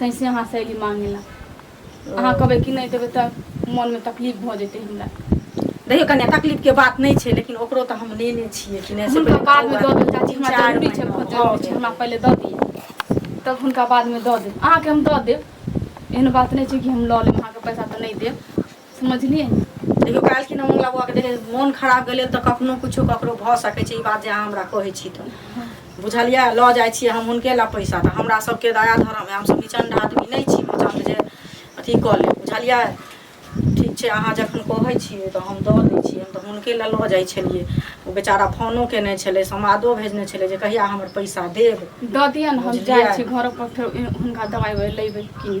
तैसे अहाँ से एली मांगे ला ओ अहाँ कहबै कि नहि देबै तऽ मोन मे तकलीफ भऽ जेतै हमरा देखियौ कनिया तकलीफ के बात नहि छै लेकिन ओकरो तऽ हम लेने छियै कि नहि से हुनका पहिले बाद कहू मे दऽ देब चाची तीन हमरा चारि जरूरी छै महीना बहुत भऽ जरूरी छै हमरा गेलै पहिले दऽ दिअ तब हुनका बाद मे दऽ देब अहाँके हम दऽ देब एहन बात नहि छै कि हम लऽ लेब अहाँके पैसा तऽ नहि देब समझलियै देखियौ काल्हि खिना मोन लगबऽ के देखियौ मोन खराब गेलै तऽ कखनो किछो ककरो भऽ सकै छै ई बात जे अहाँ हमरा कहै छी तऽ बुझलियै लऽ जाइ छियै हम हुनके लए पैसा तऽ हमरा सभके दया धर्म हइ हमसभ निचण्ड आदमी नहि छी पचण्ड जे अथी कऽ लेब बुझलियै ठीक छै अहाँ जखन कहै छियै तऽ हम दऽ दै छियै हम तऽ हुनके लए लऽ जाइ छलियै ओ बेचारा फोनो केने छलै समादो भेजने छलै जे कहिया हमर पैसा देब दऽ दिअ ने हम जाइ बुझलियै। छी घर पर फेर हुनका दवाइ उवाइ लेबै कीन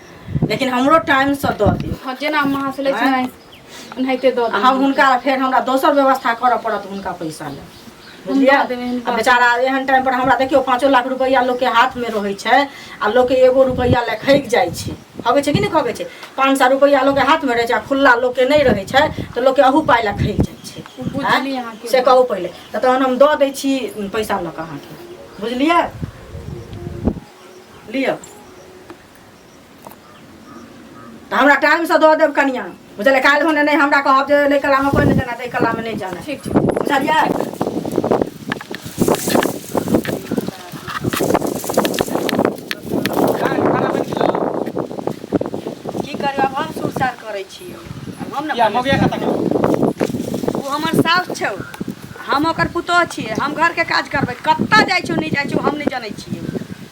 लेकिन हमरो टाइम से दऽ दियौ हँ जेना हम अहाँ से लै छी आँय? ने ओनाहिते दऽ आ देब हम हुनका लए फेर हमरा दोसर व्यवस्था करऽ पड़त हुनका पैसा लए हम बुझलियै दऽ देबै हिनका। आ बेचारा एहन टाइम पर हमरा देखियौ पाँचो लाख रुपैआ लोकके हाथमे रहै छै आ लोकके एगो रुपैआ लए खैक जाइ छै खबै छै कि नहि खबै छै पाँच सए रुपैआ लोकके हाथमे रहै छै आ खुल्ला लोकके नहि रहै छै तऽ लोकके अहू पाइ लए खैक जाइ छै ओ बुझली आँय? अहाँके से कहू पहिले तऽ तहन हम दऽ दै छी पैसा लऽ कऽ अहाँके बुझलियै लिअ तऽ हमरा टाइमसँ दऽ देब कनिया बुझलियै काल्हि होने नहि हमरा कहब जे नहि कलामे कोइ नहि जाना ताहि कलामे नहि जाना ठीक छै बुझलियै की करब आब हम सुरसार करै छी आब हम या ने मौगिया कतऽ गेल ओ हमर साउस छौ हम ओकर पुतोह छियै हम घरके काज करबै कतऽ जाइ छौ नहि जाइ छौ हम नहि जनै छियै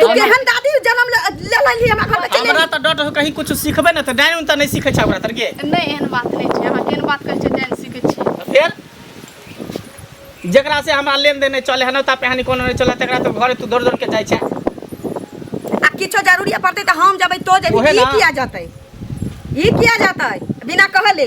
तू केहन दादी जन्म ले ले लेली हमरा घर में चलि हमरा तऽ डट कहीं कुछ सिखबे ना तऽ डाइन उन तऽ नहीं सीखे छै ओकरा तरके नहि एहन बात नहि छै अहाँ केहन बात कहै छियै जानि सीखै छियै फेर जकरा से हमरा लेन देन नहीं चले है ना ता पहनी कोनो नहीं चले तकरा तो घरे तू दौड़ दौड़ के जाय छै आ किछो जरूरी पड़तै तऽ हम जेबै तो जेबै ओहे ई ना। किया जेतै ई किया जेतै बिना कहले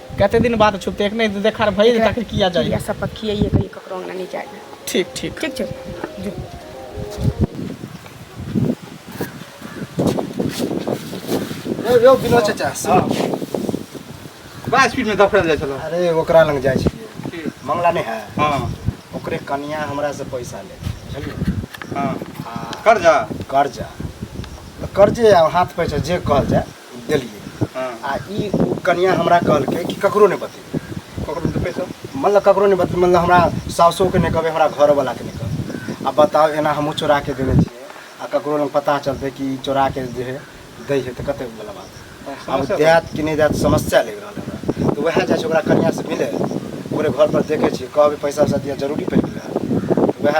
कते दिन बाद छुप देख नहीं तो देखा भई तक किया जाए या सब पक्की ये कहीं ककरो अंगना नहीं जाए ठीक ठीक ठीक ठीक जो यो यो बिनो चाचा सुन बड़ा स्पीड में दफड़ल जाए चलो अरे ओकरा लग जाए छी मंगला नहीं है हां ओकरे कनिया हमरा से पैसा ले बुझलिए हां कर्जा कर्जा कर्जे हाथ पैसा जे कहल जाए देलियै हँ आ ई ओ कनिया हमरा कहलकै कि ककरो नहि बतेबै ककरो देबै सब मतलब ककरो नहि बतेबै मतलब हमरा साउसोके नहि कहबै हमरा घरवलाके नहि कहबै आ बताउ एना हमहूँ चोरा के देने छियै आ ककरो लग पता चलतै कि ई चोरा के जे है दै है तऽ कतेक बला बात है। आब समस्या देत कि नहि देत समस्या लागि रहल है हमरा तऽ उएह जाइ छै ओकरा कनियासँ मिलै ओकरे घरपर देखै छियै कहबै पैसा वैसा दिअ जरूरी पड़ि गेलै हँ तऽ उएह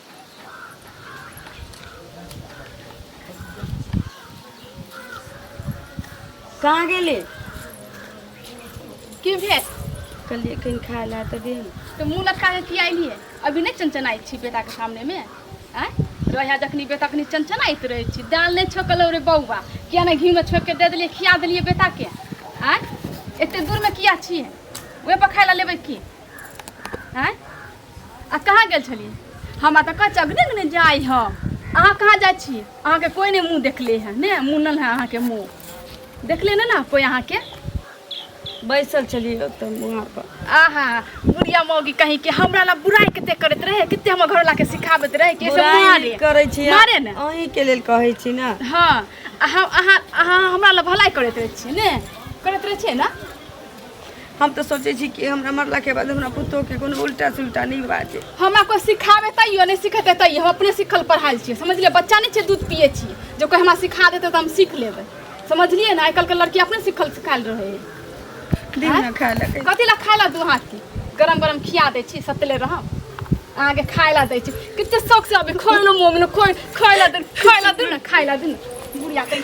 कहाँ गेली की भेल कहलिए कहीं खाए ला तऽ दे तो मुँह लटका के किया अयली है अभी नहीं चनचनाई छी बेटा के सामने में आय रहे जखनी बेटा कनी चनचनाइत रहे छी दाल नहीं छोकल रे बौआ किया नहीं घी में छोक के दे दिलिए खिया दिलिए बेटा के आय एते दूर में किया छी वह पर खाए ला लेबै की आय आ कहाँ गेल छली हमरा तऽ कच्चा अगने अगने जाइ ह अहाँ कहाँ जाइ छी अहाँके कोई नहि मुँह देखले है ने मुनल है अहाँके मुँह देखले ने ना कोई अहाँके बैसल छली ओतऽ वहाँ पर आहा बुढ़िया मौगी कहीं के हमरा ला बुराई कते करैत रहे कते हमर घरला के सिखाबैत रहे कि ऐसे बुराई मारे नहि करै छी मारे ने अहीं के लेल कहै छी ने हाँ अहाँ अहाँ अहाँ हमरा ला भलाई करैत रहे छियै ने करैत रहे छियै ना हम तऽ सोचै छी कि हमरा मरलाके बाद हमरा पुतोहके कोनो उल्टा सुल्टा नहि बाजे हमरा कोई सिखाबे तैयो नहीं सिखेते तैयो हम अपने सीखल पढ़ाई छियै समझलिए बच्चा नहीं छै दूध पिए छी जो कोई हमरा सिखा देते तो हम सीख लेबै समझलिए ना आजकल के लड़की अपने सीखल सिखाल रहे है दिन ना खाए लगे कथी ला खाए ला दू हाथ के गरम गरम खिया दै छी सतले रह अहाँके खाए ला दै छी कते शौक से अभी खोलो मोमिन खोल खाए ला दे खाए ला दे ना खाए ला दे ना बुढ़िया कहीं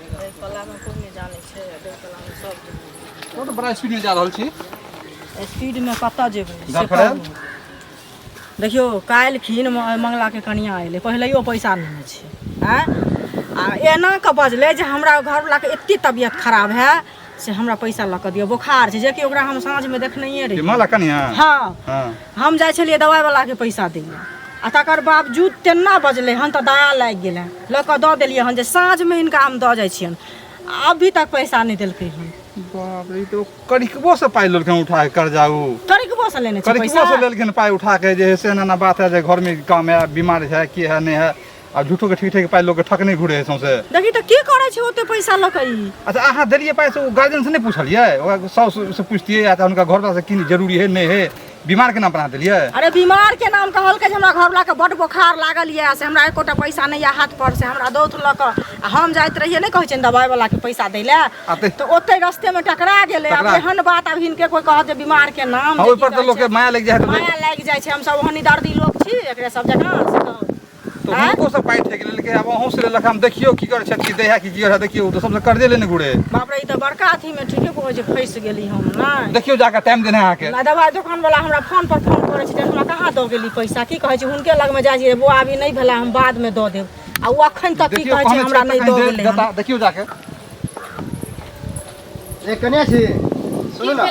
ओ तऽ बड़ा स्पीड में जा रहल छी स्पीड में कतऽ जेबै से गर्लफ्रेंड? कहू। देखियौ काल्हि खीन मंगला के कनिया एलै पहिलैयो पैसा लेने छै आँय आ एना कऽ बजलै जे हमरा घरवला के एते तबियत खराब है से हमरा पैसा लऽ कऽ दिअ बोखार छै जेकि ओकरा हम साँझमे देखनैए रही माला कनिया हँ हँ हम जाइ छलियै दवाइवलाके पैसा दै लए आ तकर बावजूद तेना बजलै हन तऽ दया लागि गेल हन लऽ कऽ दऽ देलियै हन जे साँझमे हिनका हम दऽ जाइ छियनि आ अभी तक पैसा नहि देलकै हन बाप रे ई तो करिकबो से पाइ लेलखिन उठा के कर्जा उ करिकबो से लेने छै करिकबो से पैसा लेलखिन पाइ उठा के जे है से एना एना बात है जे घर में काम है बीमार है की है नहीं है आ झूठो के ठीक ठीक पाइ लोग के ठक नहीं घुरे है सौंसे देखी तऽ की करै छै ओते पैसा लऽ कऽ ई अच्छा अहाँ देलिए पाइ से ओ गार्जियन से नहीं पूछलिए ओकरा साउस से पूछतिए या तऽ हुनका घरवाला से की जरूरी है नहीं है बीमार के नाम पर अहाँ देलिए अरे बीमार के नाम कहलकै जे हमरा घरवला के बड बोखार लागल यऽ से हमरा एकोटा पैसा नहि यऽ हाथ पर से हमरा दौत लऽ कऽ आ हम जाइत रहियै नहि कहै छै दवाइ वाला के पैसा दै लए आ ते- तऽ ओते रस्ते मे टकरा गेलै आब टकरा- एहन बात आब हिनके कोइ कहत जे बीमार के नाम हाँ जे ओहि की पर तऽ कहै लोग के छै। माया लागि जाइ है माया लागि जाइ छै हमसब ओहनी दर्दी लोग छी एकरे सब जकाँ से कहू। तऽ आँय हुनको सब पाइ ठकि लेलकै आब अहूँ से लेलक हम देखियौ की करै छथि कि दया कि की करै छथि देखियौ तऽ सबसँ कर्जे लेने घुरे बाप रे ई तऽ बड़का अथी मे ठीके कहै छै फँसि गेली हम नहि देखियौ जाकऽ टाइम देने अहाँके नहि दवाइ दोकान वाला हमरा फोन पर फोन करै छै हमरा कहाँ दऽ गेली पैसा की कहै छै हुनके लग मे जाइ छियै बौआ अभी नहि भेला हम बाद मे दऽ देब आ ओ अखन तक की देखियौ कहै छै कहने हमरा छथि नहि तऽ दऽ कहीं गेलै जे- हन। जता- देखियौ जाके ए कने छी सुनू ने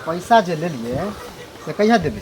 पैसा जे लेलियै से कहिया देबै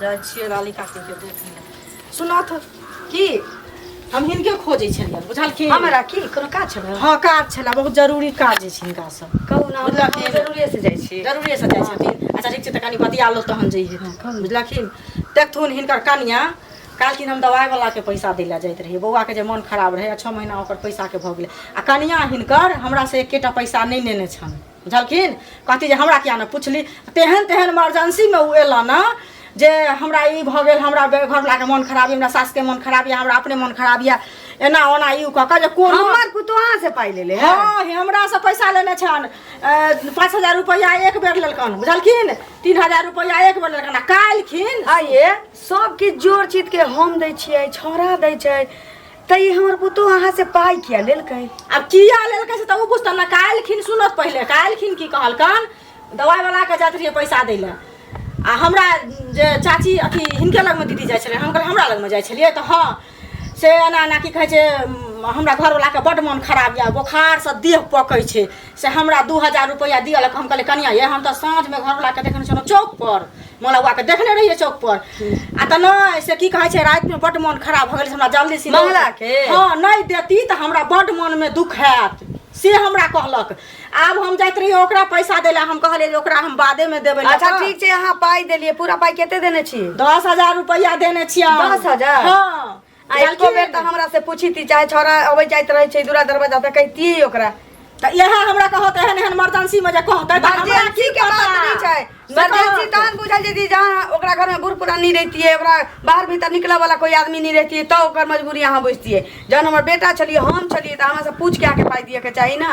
जाइ छियै लाली काकी के देख लिय सुनऽ तऽ की हम हिनके खोजै छलियै बुझलखिन हमरा की कोनो काज छल हँ काज छलए बहुत जरूरी काज अछि हिनका से कहू ने बुझलखिन जरूरे से जाइ छी जरूरे से जाइ छथिन अच्छा ठीक छै तऽ कनि बतिया लो तहन जइहे बुझलखिन देखथुन हिनकर कनिया कहलखिन हम दवाइ वाला के पैसा दै लए जाइत रहियै बौआ के जे मोन खराब रहै आ छओ महीना ओकर पैसा के भऽ गेलै आ कनिया हिनकर हमरा से एकेटा पैसा नहि नेने छनि बुझलखिन कहती जे हमरा किया नहि पुछली तेहन तेहन इमरजेंसीमे ओ एलहुँ ने जे हमरा ई भऽ गेल हमरा घरवलाके मोन खराब यऽ हमरा सासके मोन खराब यऽ हमरा अपने मोन खराब यऽ एना ओना ई कऽ कऽ जे कोन हमर पुतोहा से पाइ लेले हँ हमरा से पैसा लेने छन पाँच हजार रुपैआ एक बेर लेलकन बुझलखिन तीन हजार रुपैआ एक बेर लेलकन आ काल्हिखिन आइए सब किछु जोड़ चीत के हम दै छियै छौड़ा दै छै त ई हमर पुतो अहाँ से पाई किया लेलकै अब किया लेलकै से त उ बुझतन ना काल्हिखिन सुनत पहिले काल्हिखिन की कहलकन दवाई वाला के जात रहिए पैसा दै ले आ हमरा जे चाची अथी हिनके लगमे दीदी जाइ छलै हम कहलियै हमरा लगमे जाइ छलियै तऽ हँ से एना एना की कहै छै उम, हमरा घरवलाके बड्ड मोन खराब यऽ बोखारसँ देह पकै छै से हमरा दू हजार रुपैआ दिअ लए हम कहलियै कनिया ये हम तऽ साँझमे घरवलाके देखने छलहुँ चौकपर मोला बुआ के देखने रहिए चौक पर आ त नहीं से की कहे छै रात में बड मन खराब भ गेल से हमरा जल्दी से मंगला के? हां नहीं देती त हमरा बड मन में दुख हैत से हमरा कहलक आब हम जाइत रहिए ओकरा पैसा देला हम कहलिए जे ओकरा हम बादे में देबै अच्छा लगा। ठीक छै अहाँ पाइ देलियै पूरा पाइ कते देने छी दस हजार रुपया देने छियै दस हजार? हाँ काल्हिको बेर तऽ हमरा से पूछी थी चाहे छोरा अबै जाइत रहै छै दूरा दरवाजा तऽ कहितियै ओकरा तऽ इएह हमरा कहत एहन एहन मर्जेंसी मे जे कहतै तऽ हमरा मर्जेंसी की के बात पता? नहि छै से मर्जेंसी कहत। तहन बुझल जेती जहाँ ओकरा घर में बूढ़ पुरानी रहतियै ओकरा बाहर भीतर निकलऽ वाला कोई आदमी नहीं रहतियै तऽ ओकर मजबूरी अहाँ बुझतियै जहन हमर बेटा छलियै हम छलियै तऽ हमरा से पूछ के आके पाइ दिए के चाही ने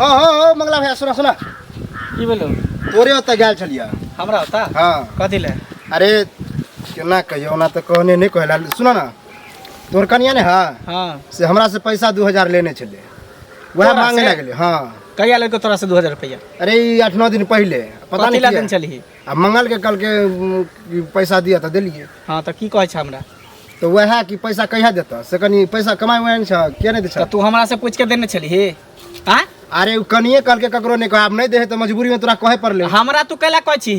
हाँ हाँ हाँ मंगला भैया सुना सुना की बोलो तोरे ओतऽ गेल छलियै हमरा होता हाँ कथी ले अरे केना कहियौ ओना तऽ कहने नहि कहला सुना ना तोहर कनिया ने है हाँ से हमरा से पैसा दू हजार लेने छले वह तोरा मांगे से? लगले हाँ कहिया लेलको तोरा से दू हजार रुपया अरे ई आठ नौ दिन पहले पता कथी ला नहीं दिन किया। चलही आ मंगल के कल के उम, कि पैसा दिया था दिलिए हाँ तो की कहै छ हमरा तो वह कि पैसा कहिया देता से कनी पैसा कमाए हुए छ किया नहीं दे तऽ तू हमरा से पूछ के देने छलही आ अरे उ कनिए कल के ककरो नहीं कहे अब नहीं देहे तो मजबूरी में तोरा कहे पड़ले हमरा तू कैला कहै छी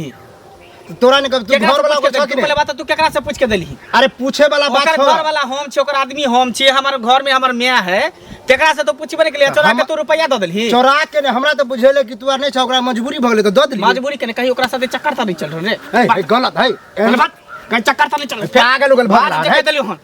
तोरा नहीं कब तू केकरा घर से वाला पूछ के ओकर छक देली? तू पहले बात तू केकरा से पूछ के देलही अरे पूछे वाला बात ओकर छोड़ घर वाला हम छी ओकर आदमी हम छी हमर घर में हमर माय है केकरा से तो पूछबे नहीं केलिए चोरा के हम- तू रुपया दे देलही चोरा के ने हमरा तो बुझेले कि तू आर नहीं छ ओकरा मजबूरी भगले तो दे दिली मजबूरी के ने कही ओकरा साथे चक्कर ता नहीं चल रहे ए, ए, गलत है ए, गलत कहीं चक्कर ता नहीं चल रहे पागल उगल भाग भाग रहा है। देके देलियो हन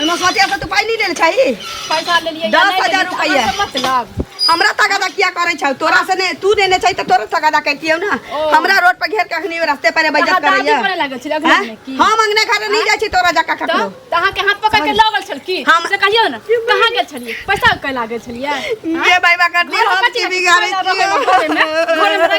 एना सोचे से तू पाई नहीं ले छै पैसा ले लिए दस हजार रुपया मतलब हमरा तगादा किया करे छौ तोरा से ने तू देने छै त तोरा तगादा करतियौ ना हमरा रोड पर घेर के अखनी रास्ते पर बैजत करैया करे लागल छै अगला में की हम अंगने घर नहीं जाय छी तोरा जका ककरो त अहाँ के हाथ पकड़ के लगल छल की हम से कहियो ना कहां गेल छलिए पैसा के लागल छलिए ये भाई बा कर दे हम की बिगाड़े छियै घर में रह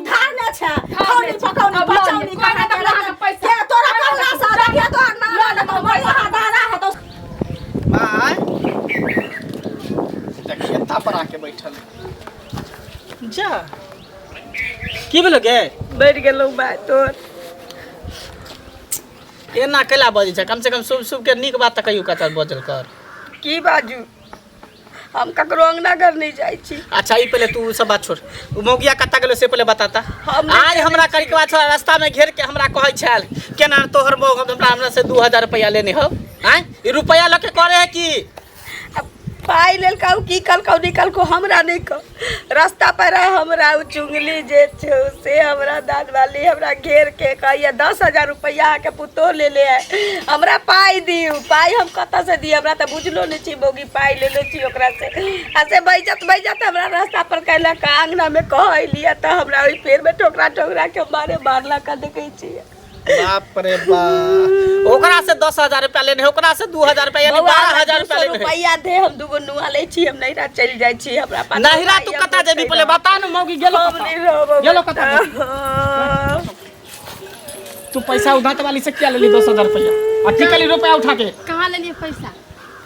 धारने छै खानी पकौनी पचौनी खाना के लगा के पैसा तोरा कल्ला सा देखिए तो ना लगा तो मर रहा दारा है तो माय देखिए पर आके बैठल जा की भेलो गे बैठ गेलो बाय तोर एना कैला बजै छै कम से कम शुभ शुभ के नीक बात तऽ कहियो कतऽ बजल कर की बाजू हम ककरो अंगना घर नहीं जाय छी अच्छा ई पहले तू उ सब बात छोड़ उ मौगिया कत्ता गेलो से पहले बताता हम नहीं आज हमरा करी के बाद थोड़ा रास्ता में घेर के हमरा कहै छल केना तोहर मौग हमरा हमरा से 2000 रुपया लेने हो हैं ई रुपया लके करे है कि अब पाई लेल कहू की कल कहू निकल को हमरा नहीं कह रास्ता पर है हमरा उ चुंगली जे छो से हमरा दाद वाली हमरा घेर के कहिया दस हजार रुपया के पुतो ले ले है हमरा पाई दियो पाई हम कत से दी हमरा तो बुझलो नहीं छी बोगी पाई ले ले छी ओकरा से आ से बैजत बैजत हमरा रास्ता पर कहला का अंगना में कहली तो हमरा ओई पेड़ में ठोकरा ठोकरा के मारे मारला का देखे छी बाप रे बाप ओकरा से दस हजार रुपया लेने है ओकरा से दू हजार रुपया यानी बौआ, बारह हमरा हजार दू रुपया सौ लेने है रुपैआ दे हम दूगो नुआ लै छी हम नैहरा चलि जाइ छी हमरा पास नहिरा तू कता जेबी पहिले बता न मौगी गेलो हम कता? नहीं रहब गेलो कता जेबी? तू पैसा उधात वाली से क्या लेली दस हजार रुपया आ की कली रुपया उठा के कहाँ लेलिए पैसा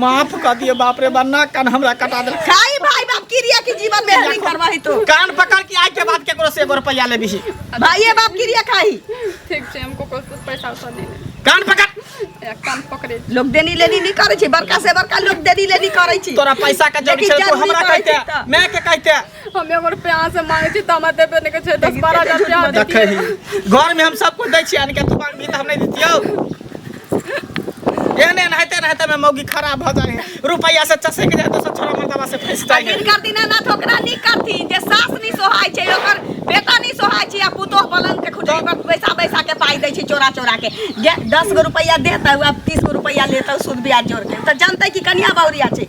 माफ कर दिए बाप रे बा ना कान हमरा कटा दे खाई भाई बाप क्रिया की जीवन में नहीं करवाही तो कान पकड़ के आज के बाद केकरो से एगो रुपया ले बिही भाई बाप क्रिया खाई ठीक छै हमको कुछ कुछ पैसा उसा दे दे कान पकड़ एक कान पकड़े लोग देनी लेनी नहीं करे छी बड़का से बड़का लोग देनी लेनी करे छी तोरा पैसा के जरूरी लेकिन छै तो जरूरी हमरा पड़ै कहते छै तऽ। मैं के कहते हमे ओकर प्यार से मांगे छी त हमरा देबे ने के छै 10 12 हजार रुपया दे देखै ही घर में हम सब कुछ दै छी अनके तू मांग भी त हम नहीं देतियो एहने एहन हेते रहते में मौगी खराब भ जाए रुपया से चसे के जाए तो सब छोरा मर्दवा से फंस जाए दिन करती ना ना ठोकरा नी करती जे सास नी सोहाय छै ओकर बेटा नी सोहाय छै आ पुतोह पलंग के खुजरी पर पैसा पैसा के पाई दै छै चोरा चोरा के जे 10 गो रुपया देता हुआ 30 गो रुपया लेता सूद ब्याज जोड़ के त जानते कि कनिया बावरिया छै